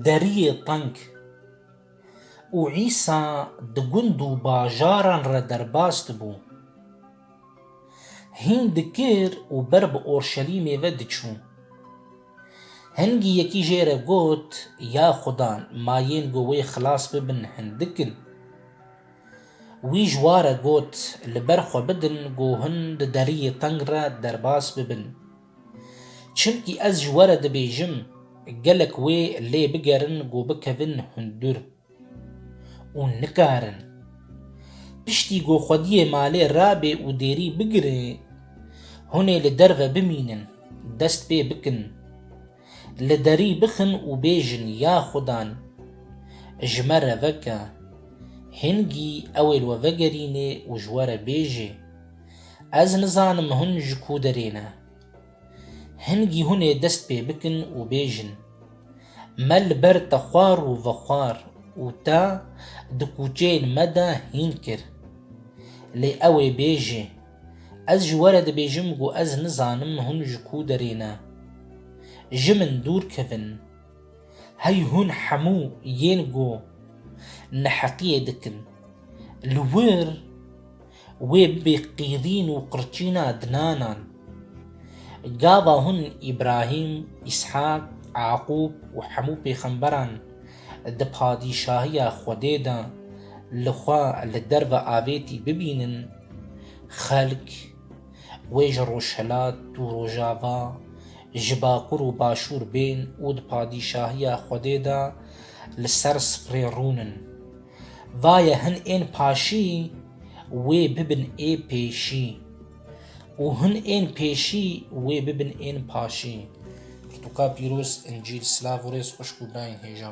Deriyê teng û Îsa di gund û bajaran re derbas dibû. Hîn dikir û ber bi Orşelîmê ve diçû. Hingî yekî jê re got, Ya Xudan, ma yên ku wê xilas bibin hindik in. Wî ji wa re got, Li ber xwe bidin ku hûn di deriyê teng re derbas bibin. Çimkî ez ji we re dibêjim, gelek wê lê bigerin ku bikevin hundir. Û nikarin. Piştî ku xwediyê malê rabê û dêrî bigire, hûnê li derve bimînin, dest pê bikin. Li derî bixin û bêjin ya xudan ji me re veke. Hingî ew ê li we vegerînê û ji we re bêjê, Ez nizanim hûn ji ku derê ne. Hingî hûn ê dest pê bikin û bêjin, Me li ber te xwar û vexwar û te di kûçeyên me de hîn kir. Lê ew ê bêjê. Ez ji we re dibêjim ku ez nizanim hûn ji ku derê ne. Ji min dûr kevin. Hey hûn hemû yên ku neheqiyê dikin li wir wê bibê qîrîn û qirçîna dinanan. Gava hûn Îbrahîm, Îshak, Eaqûb û hemû pêxemberan di padîşahiya Xwedê de li xwe li derve avêtî bibînin, Xelk wê ji Rojhilat û Rojava, ji Bakur û Başûr bên û di padîşahiya Xwedê de li ser sifrê rûn in. Va ye hin ên paşî wê bibin ê pêşî û hin ên pêşî wê bibin ên paşî. Pirtûka pîroz, Încîl, silav û rêz xwişk û birayên hêja.